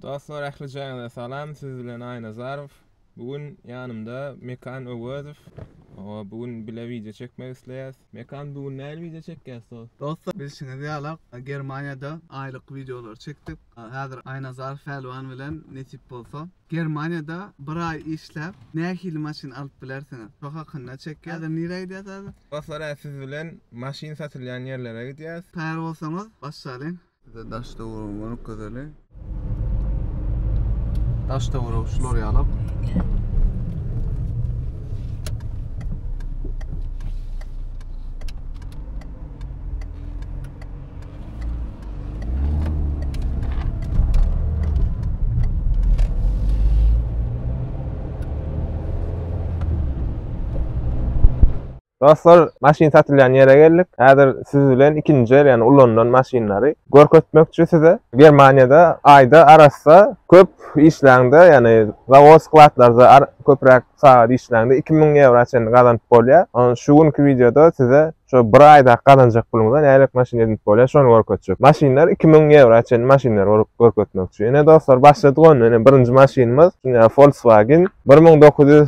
Dostlar ähli jaýyňyza salam siz bilen Aýnazarow bu gün ýanymda Mekan Öwezow o bu gün bile wideo çekmek isleýäs Mekan bu gün nähili wideo çekýäs dos. Dostlar bilşiňiz ýala Germaniýada aýlyk wideolary çekdik häzir Aýnazarow Pälwan bilen nesip bolsa Germaniýada bir aý işläp nähili maşyn alyp bilersiňiz şo hakynda çekýäs häzir nirä gidýäs häzir. Dostlar hä siz bilen maşyn satylýan ýerlere gidýäs. Taýýar bolsaňyz başlalyň. Bize daş döwrüň gönük gözeli. Daş döwrüň şular ýalak. Dostlar, maşyn satylýan ýere geldik. Häzir siz bilen ikinji el, ýagny ulanylan maşynlary görkezmekçi size. Germaniýada aýda arassa köp işläňde, ýagny zawod, skladlarda köpräk sagat işläňde iki müň ýewra çenli gazanyp bolýar. Ony şu günki wideoda size şu bir aýda gazanjak puluňyza nähili maşyn edinip bolýar, şony görkezjek. Maşynlar iki müň ýewra çenli maşynlary görüp görkezmekçi. Ine dostlar, başladyk onda. Ine birinji maşynymyz, ine Volkswagen bir müň dokuz ýüz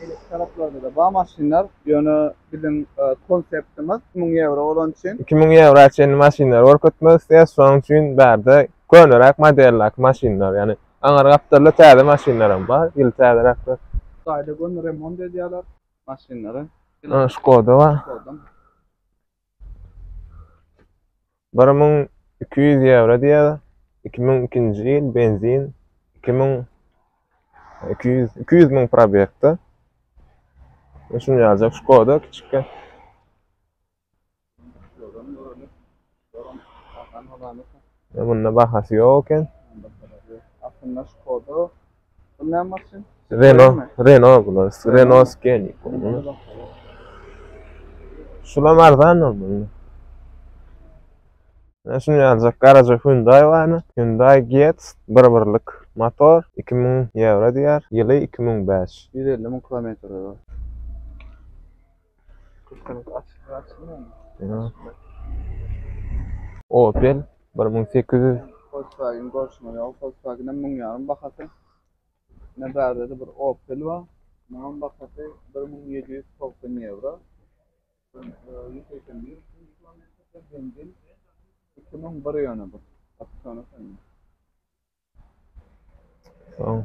Beýleki taraplarda-da bar maşynlar, ýöne biziň konseptimiz iki müň ýewro bolan üçin. Iki müň ýewra çenli maşynlary görkezmek isleýäs, şonuň üçin bärde köneräk modeldäki maşynlar, ýagny aňyr gapdalda täze maşynlaram bar, ýyly täzeräkler. Hytaýda göni remont edýärler maşynlary. Ine, Şkoda bar. Bir müň iki ýüz ýewro diýýär. Iki müň ikinji ýyl benzin iki müň iki ýüz iki ýüz müň probegde. Şunu ýazjak Şkoda kiçikkä. Bunda bahasy ýok eken. Aslynda Şkoda Renault, Renault bular. Renault Scenic. Şulam arzan olmaly. Ben şunu yazacak. Garaja Hyundai var mı? Hyundai Getz. Bir birlik motor. 2000 euro diyor. Yılı 2005. 150 bin kilometre var. Opel bir müň sekiz ýüz. Volkswagen görşüňe ýok. Volkswagen hem müň ýarym bahasy. Ne bärde-de bir Opel bar. Munuň bahasy bir müň ýedi ýüz togsan ýewro. Ýüz segsen bir kilometr benzin. Iki müň bir ýöne bu. Opsiony sende. Soň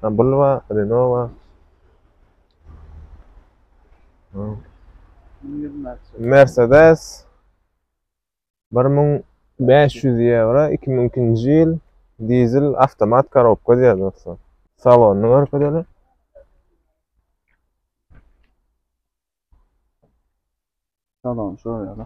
Ha, bul wa, Renault wa. Soň Mercedes 1500 ýewro 2002-nji ýyl dizel awtomat korobka diýýär dostlar. Salonyny görkezeli. Salon şo ýaly.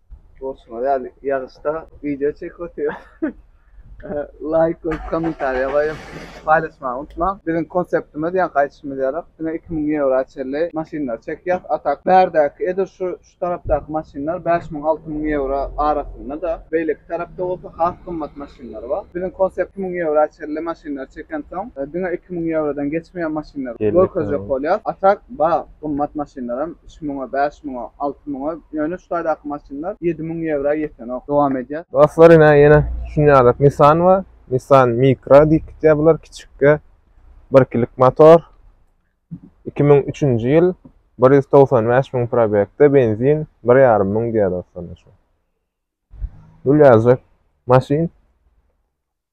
Borçuma geldi. Ýagyşda wideo çekip otyr. Laýk goýup, kommentariýa goýup, paýlaşmagy unutmaň. Biziň konseptimiz, ýa gaýdyşymyz ýarak, diňe iki müň ýewroa çenli maşynlary çekýäs. A tak, bärdäki, edil şu, şu tarapdaky maşynlar bäş müň, alty müň ýewro arasynda-da. Beýleki tarapda bolsa has gymmat maşynlar bar. Biziň konsept iki müň ýewroa çenli maşynlary çekensoň, diňe iki müň ýewrodan geçmeýän maşynlary görkezjek bolýas. A tak, bar, gymmat maşynlaram. iki müňe, bäş müňe, alty müňe, ýöne şu taýdaky maşynlar ýedi müň ýewroa ýetenok. Dowam edýär. Dostlar ine ýene şunýalak Nissan bar. Nissan Micra diýip gitýär bular kiçikkä. Bir kilik motor. Iki müň üçünji ýyl. Bir ýüz togsan bäş müň probegde benzin bir ýarym müň diýýär dostlar. Dul ýazjak maşyn.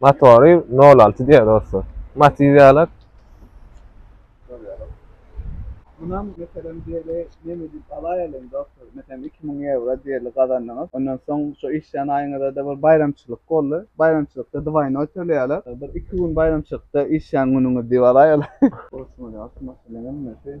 Motory nol alty diýýär dostlar. Matiz ýalak. Şol ýalak. Munam meselem diýeli neme diýip alaýalyň dostlar. Meselem iki müň ýewro diýeli gazandyňyz. Ondan soň şo işleýän aýyňyzada bir baýramçylyk boldy. Baýramçylykda dwaýnoý töleýäler. Bir iki gün baýramçylykda işleýän günüňiz diýip alaýalyň. Boş bolýar şu maşynyň hemmesi.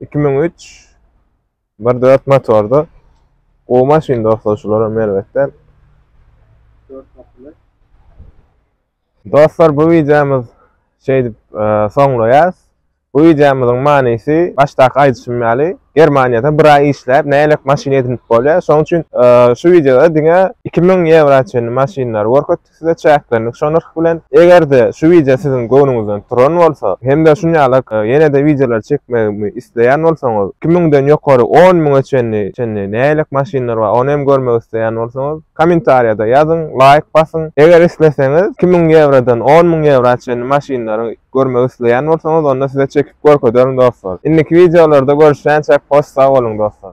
Iki müň üç bir dört motorda gowy maşyn dostlar şulara merwet däl. Dört kapyly. Dostlar bu wideomyz şeýdip soňlaýas. Bu wideomyzyň manysy başdaky aýdyşym ýaly Germaniýada bir aý işläp nälelik maşyn edinip bolýar. Şoň üçin şu wideoda diňe iki müň ýewra çenli maşynlary görkezdik. Size çäklendik şu nyrh bilen. Eger-de şu wideo siziň göwnüňizden turan bolsa, hem-de şun ýaly ýene-de wideolar çekmegimi isleýän bolsaňyz, iki müňden ýokary on müňe çenli çenli nähilek maşynlar bar, ony hem görmek isleýän bolsaňyz, kommentariýada ýazyň, laýk basyň. Eger isleseňiz, iki müň ýewrodan on müň ýewra çenli maşynlary görmek isleýän bolsaňyz, onda size çekip görkezerin dostlar. Indiki wideolarda görüşýänçäk hoş sag boluň dostlar.